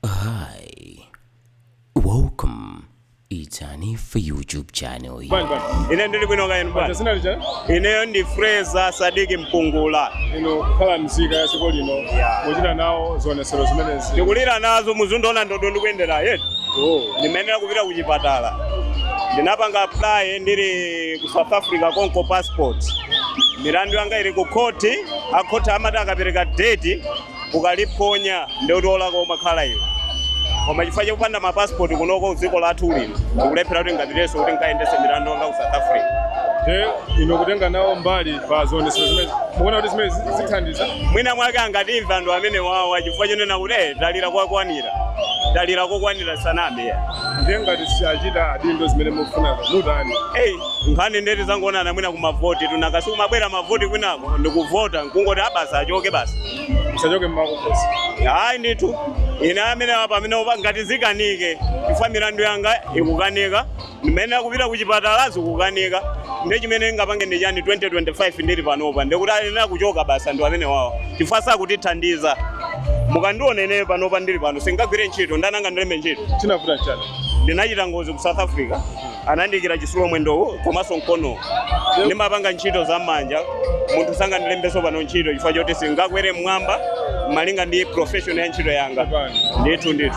Hi, welcome. It's Hanifa YouTube channel here. Bwana, bwana. Ine ndili bwino kaya inu bwana. Dzina lija Ineyo ndi Fraser Sadiki Mpungula. Inu kukhala mzika ya dziko lino Yeah. kuchita nawo zionetsero zimenezi Ndikulira nazo mukundiona ndodo ndikuyendera yeti. Oh. Ndimayenera kupita ku chipatala. Ndinapanga apply ndili ku South Africa konko passport. Milandu yanga ili ku khoti, akhoti amati akapereka date ukaliphonya nde kuti wolakwa umakhala iwe koma chifukwa chakupanda ma passport kunoko dziko lathu lino ndikulephera kuti nkapitenso kuti nkayendese milandu yanga ku south africa nde inu kutenga nawo mbali pa zionetsero zimenezi mukuona kuti zimenezi zithandiza mwina mwake angatimva anthu amene wawa chifukwa chonena kuti "Eh, talira kokwanira talira kokwanira sanamve nde ngati siachita adindo zimene mukufunazo mutani eyi nkhani nde tizaonana mwina kumavoti tunakasi kumabwera mavoti kwinako ndikuvota nkungoti abwana achoke basi msachoke mmakokosi hayi ndithu ine amene apa amene opa- ngati zikanike chifukwa milandu yanga ikukanika ndimayenera kupita kuchipatala zikukanika ndi chimene ndingapange ndi chani 2025 ndili panopa ndikuti ayenera kuchoka basi anthu amenewawo chifukwa sakutithandiza mukandiona ine panopa ndili pano singagwire ntchito ndani angandilembe ntchito chinavuta nchani ndinachita ngozi ku south africa anandiikira chitsulo mwendowu komanso mkonowu ndimapanga ntchito za manja munthu sangandilembenso pano ntchito chifukwa choti singakwere mmwamba malinga ndi profession ya ntchito yanga ndithu ndithu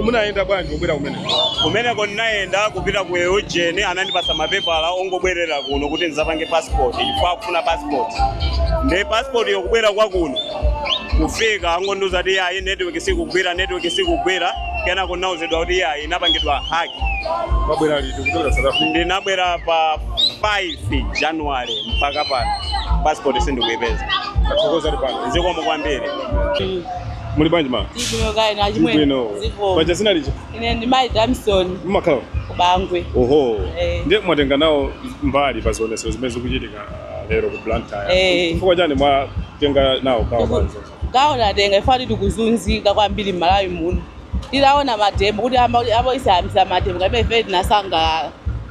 munayenda bwanji kubwera kumene kumeneko ndinayenda kupita ku UDM anandipasa mapepala ongobwerera kuno kuti ndizapange passport chifukwa akufuna passport ndi passport yokubwera kwa kuno kufika angondiuza kuti ayi network sikugwira network sikugwira kenako ndinauzidwa kuti ayi inapangidwa hack Mwabwera liti kuchokera South Africa? ndinabwera pa 5 january mpaka pano passport sindikuipeza Tathokoza ali pano. zikomo kwambiri Muli bwanji ma? Ndili bwino kaya inu achimwene. Bwino. Zikomo. Paja dzina lija. Ine ndi Mai Damson Mumakhala. ku Bangwe. Oho. Eh. Ndiye mwatenga nawo mbali pa zionetsero zimene zikuchitika ah, lero ku Blantyre. Eh. Chifukwa chani mwatenga nawo gawo Tiku- panzo? Gawo tatenga chifukwa choti tikuzunzika kwambiri m'Malawi muno. Titaona mademo kuti abusa ayambitsa mademo ngati mmene ifeyo tinasangalala,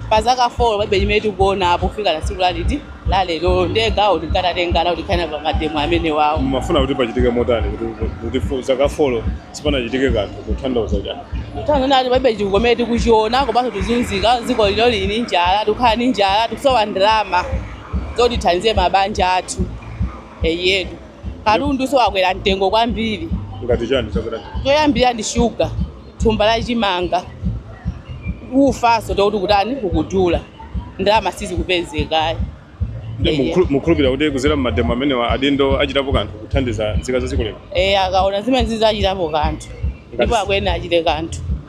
pa zaka 4 palibe chimene tikuonapo kufika na tsiku la liti, la lerolo. Ndiye gawo tingatatenga nawo tikhale nawo pa mademo amenewawo. Mumafuna kuti pachitike motani kuti kuti fo- zaka folo sipanachitike kanthu kutanthauza chani? Tikutanthauza kuti palibe chitukuko chimene tikuchiona komanso tikuzunzika, dziko lino lili ndi njala, tikukhala ndi njala, tikusowa ndalama zoti tithandizire mabanja athu. Eyetu. Katundu so wakwera mtengo kwambiri. Ngati chani chakwera mtengo? Choyambirira ndi shuga, thumba la chimanga, ufanso tekuti kutani kukudula. Ndalama sizikupezekayi. Mukhulupirira kuti kuzera mmademo amenewa adindo achitapo kanthu kuthandiza nzika za dziko lino? Eya, akaona zimenezi azachitapo kanthu ndipo akuyenera achite kanthu.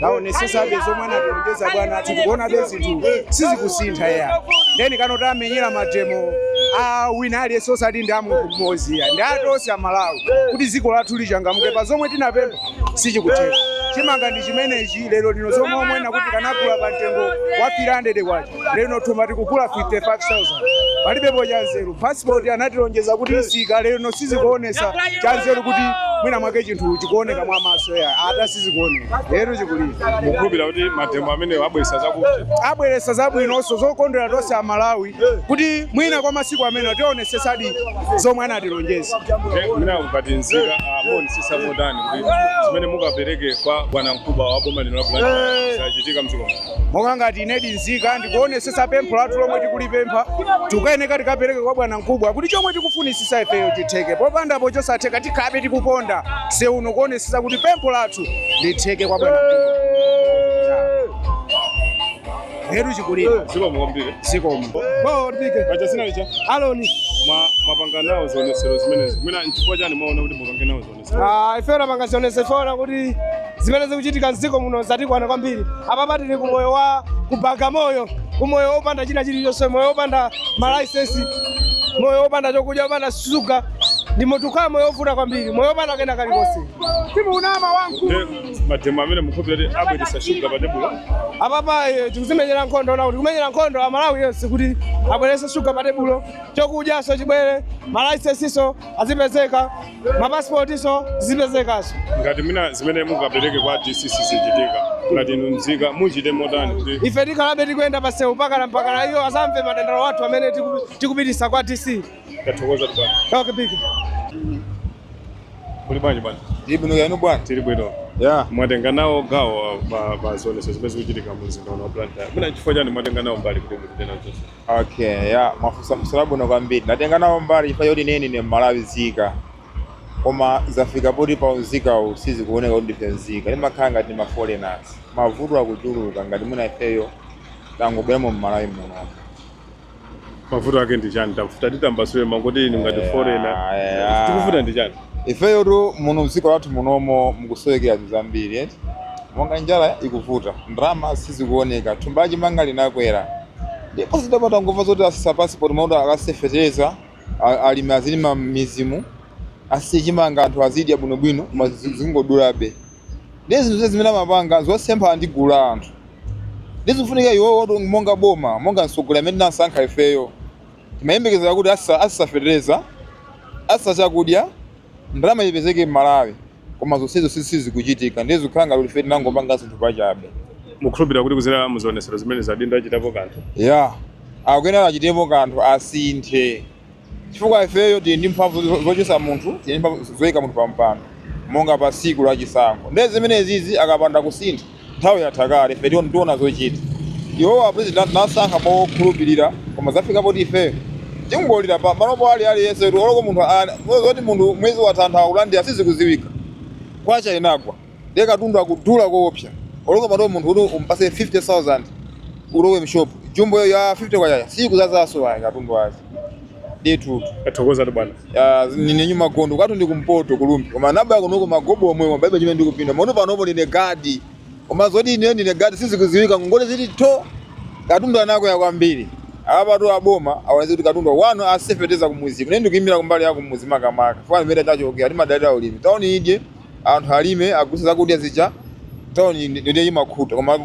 taonesesabe zomwe anatilonjeza bwana athu tikuonabe kuti zinthu sizikusintha ya ndeni kano tamenyera mademo a wina aliyense osati ndi amunthu mmodzi ya ndi atonse amalawi kuti dziko lathu lichangamuke pa zomwe tinapempha sichikutheka chimanga ndi chimenechi lero lino zomwe amanena kuti tikanagula pa mtengo wa 300 kwacha lero thumba tikugula 55000 palibepo chanzeru passport anatilonjeza kuti itsika lero sizikuonesa chanzeru kuti mwina mwake chinthu chikuoneka mwa maso yathu sizikuoneka Eluby Chikulira mukhulupirira kuti mademo amene abweresa zakuti abweresa zabwinonso zokondwera tonse amalawi kuti mwina kwa masiku amene tionesesadi zomwe anatilonjeza mwina ngati nzika muonesesa motani kuti zimene mukapereke kwa bwanamkubwa wa boma lino la blantyre zachitika mdziko muno monga ngati ine ndi nzika ndikuonesesa pempho lathu lomwe tikulipempha tikuyeneka tikapereke kwa bwana mkubwa kuti chomwe tikufunisisa ifeyo chitheke popandapo chosatheka tikhalabe tikuponda mseu uno kuonesesa kuti pempho lathu litheke kwa bwana mkubwa heru chikulira zikomo kwambiri zikomo paja zina lija aloni mwapanga nawo zionetsero zimenezi mwina nchifukwa chani mwaona kuti mupange nawo zionetsero Ah, ifeyo tapanga zionesero poona kuti zimene zikuchitika mdziko muno zatikwana kwambiri apapa tili ku moyo wa ku Bagamoyo ku moyo wopanda china chilichonse moyo wopanda malaisensi moyo wopanda chokudya wopanda shuga ndi mo tikukhala moyo wovuta kwambiri moyo wopanda kena kalikonse simunama wamkulu Ndi mademo amene mukhulupirira kuti abweretsa shuga pa tebulo apapa eh, tikuzimenyera nkhondo poona kuti kumenyera nkhondo amalawi onse kuti abwerese shuga pa tebulo chokudyaso chibwere malaisensiso azipezeka mapasipotinso azipezekaso ngati mwina zimene mukapereke kwa dc sizichitika ngati inu mzika muchite motani kuti ife tikhalabe tikuyenda pasewu mpakana mpakana iwo azamve madandaulo athu amene tiku- tikupitisa kwa dc tathokoza bwana okay, big. kuli bwanji bwana Ndi bwino kaya inu bwana. tili bwino Yeah. mwatenga nawo gawo pa pa zionetsero zimene zikuchitika mu mzinda uno wa blantyre mwina chifukwa chani mwatenga nawo mbali kuti muchite nawo zionetsero Okay, ya mwafunsa funso labwino kwambiri. Ndatenga nawo mbali chifukwa choti ine ndine mMalawi nzika koma zafika poti pa unzika uwu sizikuoneka kuti ndife nzika timakhala ngati ma foreigners mavuto akuchuluka ngati mwina ifeyo tangobweramo m'malawi muno mavuto ake ndi chani tafuna mutambasule mangoti inu ngati Yeah, foreigner yeah. chikuvuta ndi chani ifeyotu muno mdziko lathu munomo mukusowekera zinthu zambiri eti monga njala ikuvuta ndalama sizikuoneka thumba lachimanga linakwera ndiye poti tidangomva zoti asisa passport amati akasise fetereza a- alimi azilima m'mizimu asise chimanga anthu azidya bwinobwino koma zi- zingodulabe ndiye zinthu zimene amapanga zosempha ndi gulu la anthu ndiye zikufunika iwowo oti monga boma monga mtsogoleri amene tinasankha ifeyo timayembekezera kuti asisa asisa fetereza asisa chakudya ndalama ipezeke m'malawi Koma zonsezo sizikuchitika ndiye zikukhala ngati kuti ife tinangopanga zinthu pachabe. Mukukhulupirira kuti kudzera mu zionetsero zimenezi adindo achitapo kanthu? Yeah, akuyenera achitepo kanthu, asinthe chifukwa ifeyo tili ndi mphamvu zochotsa munthu, tili ndi mphamvu zoika munthu pampando monga patsiku la chisankho ndiye zimenezizi akapanda kusintha, nthawi yatha kale ife tiona tiona zochita iwowa apresident tinasankha mokhulupirira koma zafika poti ifeyo tingolira pa manopo ali aliyense kuti oloko munthu ana- zoti munthu mwezi watha anthu akulandira sizikuziwika kwacha inagwa ndiye katundu akudula koopsa oloko mtown munthu kuti umpase 50000 ulowe mshopu jumbo ya 50 kwacha siyikuzazaso ayi katundu azi Ndithu. Tathokozatu bwana. Ah, ndine Nyuma Gondwe kwathu ndi kumpoto ku Rumphi. Koma ndinabwera kunoko magobo omwe koma palibe chimene ndikupindula. Ma ino panopo ndine gadi. Koma zoti ine ndine gadi sizikuziwika ngongole zili tho. Katundu anakwera kwambiri. Apatu aboma awonese kuti katundu wanu asise feteleza kumuzi. Ine ndikuimira kumbali ya kumuzi makamaka. Fukwa kumene tachokera timadalira ulimi. Tauni idye. anthu alime agulitse zakudya zicha town ndiye imakhuta koma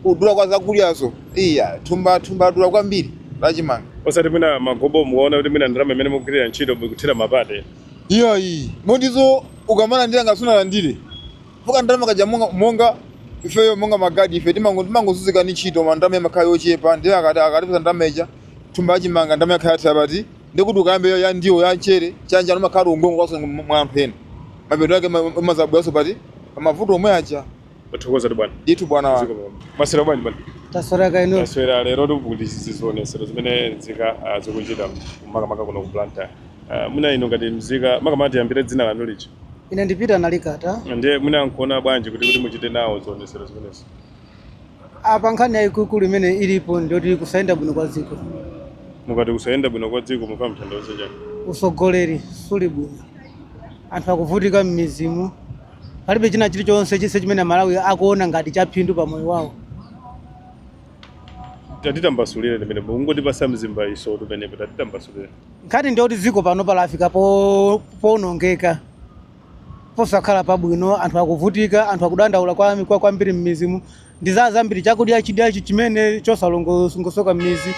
kudula kwa zakudyazo iya thumba thumba ladula kwambiri la chimanga osati mwina magobo mukaona kuti mwina ndalama imene mukugwirira ntchito mukuthera mapazi iyayi motizo ukamalandira ngati sunalandire fuka ndalama kake monga, monga ifeyo monga magadi ife timango- timangozunzika ndi ntchito koma ndalama imakhala yochepa ndiye akati akatipasa ndalama ija thumba la chimanga ndalama yakhala yathera pati ndi kuti ukambe ya- ya ndiwo ya mchere chani chani umakhala ukungokongolaso mwa anthu ena mapeto ake ma- umazabweranso pati pamavuto omwe aja Tathokoza tu bwana. ndithu bwana wanga Zikomo bwana. Mwaswera bwanji bwana. taswera kaya inu Taswera lero tili ku zionesero zimene nzika ah, zikuchita makamaka kuno ku Blantyre. Ah, Muna inu ngati mzika makamaka tiyambire dzina lanu lija. ine ndi Peter Nalikata Ndiye muna nkuona bwanji kuti kuti muchite nawo zionesero zimenezi. apa nkhani yayikulu imene ilipo ndiyoti kusayenda bwino kwa dziko mukati kusayenda bwino kwa dziko mukutanthauza chani usogoleri suli bwino anthu akuvutika m'mizimu palibe china chilichonse chise chimene amalawi akuona ngati chaphindu pa moyo wawo tatitambasulire ndimene mukungotipasa mzimbaitso pamenepo tatitambasulire nkhani ndiyoti dziko pano palafika po- powonongeka Posakhala pabwino, anthu akuvutika, anthu akudandaula kwa kwa kwambiri m'midzimu ndi za zambiri, chakudya chidya chi- chimene chosalongosoka m'midzi,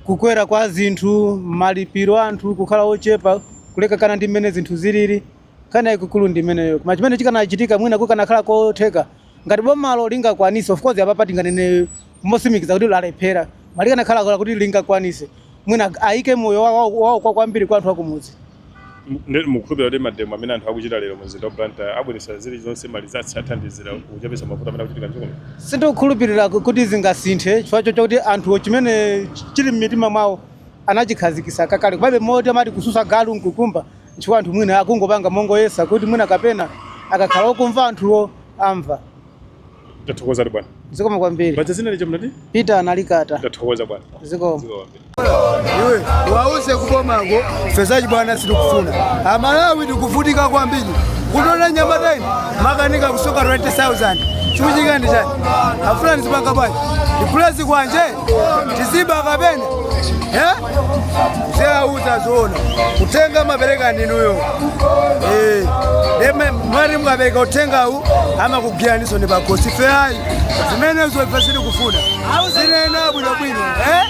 kukwera kwa zinthu, malipiro a anthu kukhala ochepa, kulekana ndi mmene zinthu zilili. Nkhani yayikulu ndi imeneyo. Koma chimene chikanachitika mwina kukanakhala kotheka ngati bomalo lingakwanise, of course apapa tinganene motsimikiza kuti lalephera, koma likanakhala kuti lingakwanise mwina ayike moyo wa- wa- wawo kwa kwambiri kwa anthu akumudzi. mukhulupira kuti mademo amene anthu akuchita lero mumzinda wa Blantyre abweretsa zilizonse marizatsi, zithandizira kuchepetsa mavuto amene akuchitika mdziko muno? Sindikukhulupirira kuti zingasinthe chifukwa chakuti anthuwo chimene chili m'mitima mwawo anachikhazikitsa kakale. Komabe moti amati kutsutsa galu nkukumba chifukwa anthu mwina akungopanga mongoyesa kuti mwina kapena akakhala okumva anthuwo amva. Tathokoza bwana. Zikomo kwambiri. Paja dzina lija munati? Peter Nalikata. Tathokoza bwana. Zikomo. Zikomo kwambiri. Iwe wauze kubomako ife izi bwana sitikufuna. Amalawi tikuvutika kwambiri. Kuona mnyamata ine makanika kusowa 20000. Chikuchitika ndi chani? Afuna nizipanga bwana. Ndizipuleza ganja. ndiziba kapena Eh? Muziwauza zoona uthenga mumapereka ndinuyo Eh, nde mwina mukapereka uthengawu amakugwiraniso ndi pakhosi ife ayi zimenezo ife sitikufuna zinena bwinobwino eh?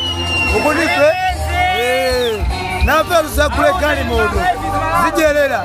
Kuti ife Eh, nafe tizagule galimoto tizidyerera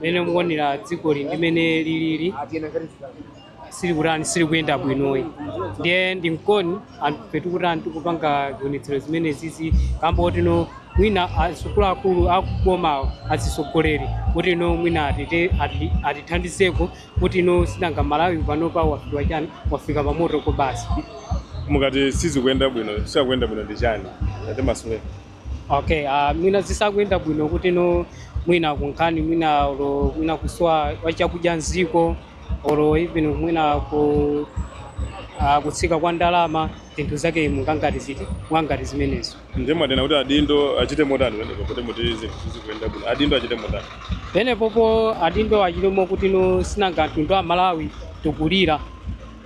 mmene mukuonera dzikoli ndi mmene lilili silikutani silikuyenda bwinoyi ndiye nchomwe anthufe tikutani tikupanga zionetsero zimene zizi kamba koti no mwina akuluakulu akubomawo azitsogoleri kuti no mwina atite ati- atithandizeko kuti no si nanga Malawi panopa wafika chani wafika pamoto Ko basi mukati sizikuyenda bwino sizikuyenda bwino ndi chani? Atimasule okay uh, mwina zisakuyenda bwino kuti no mwina kunkhani mwina olo mwina kusowa kwa chakudya m'dziko olo even mwina ku uh, kutsika kwa ndalama zinthu zake monga ngati ziti monga ngati zimenezo ndiye mwanena kuti adindo achite motani pamenepo kuti muti zinthu zikuyenda bwino adindo achite motani pamenepopo adindo achitepo kuti no si nanga mtundu wa Malawi tikulira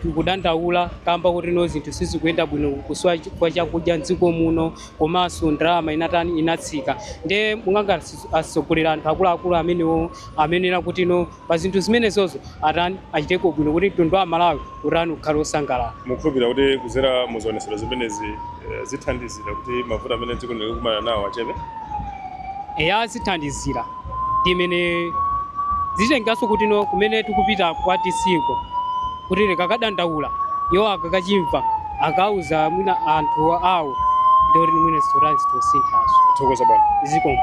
Tikudandaula kamba koti no zinthu sizikuyenda bwino kusowa kwa chakudya m'dziko muno komanso ndalama inatani inatsika nde monga ngati atsogoleri anthu akuluakulu amenewo amayenera kuti no pa zinthu zimenezozo atani achiteko bwino kuti mtundu wa Malawi utani ukhale wosangalala. Mukukhulupirira kuti kudzera mu zionetsero zimenezi zithandizira kuti mavuto amene dziko lino likukumana nawo achepe? Eya zithandizira. ndi zimene zitengeranso kuti no kumene tikupita kwa DC-ko kuti tikakadandaula iwo akakatimva akauza mwina anthu awo ndikuti mwina zinthu zosinthazo Thokoza bwana. zikomo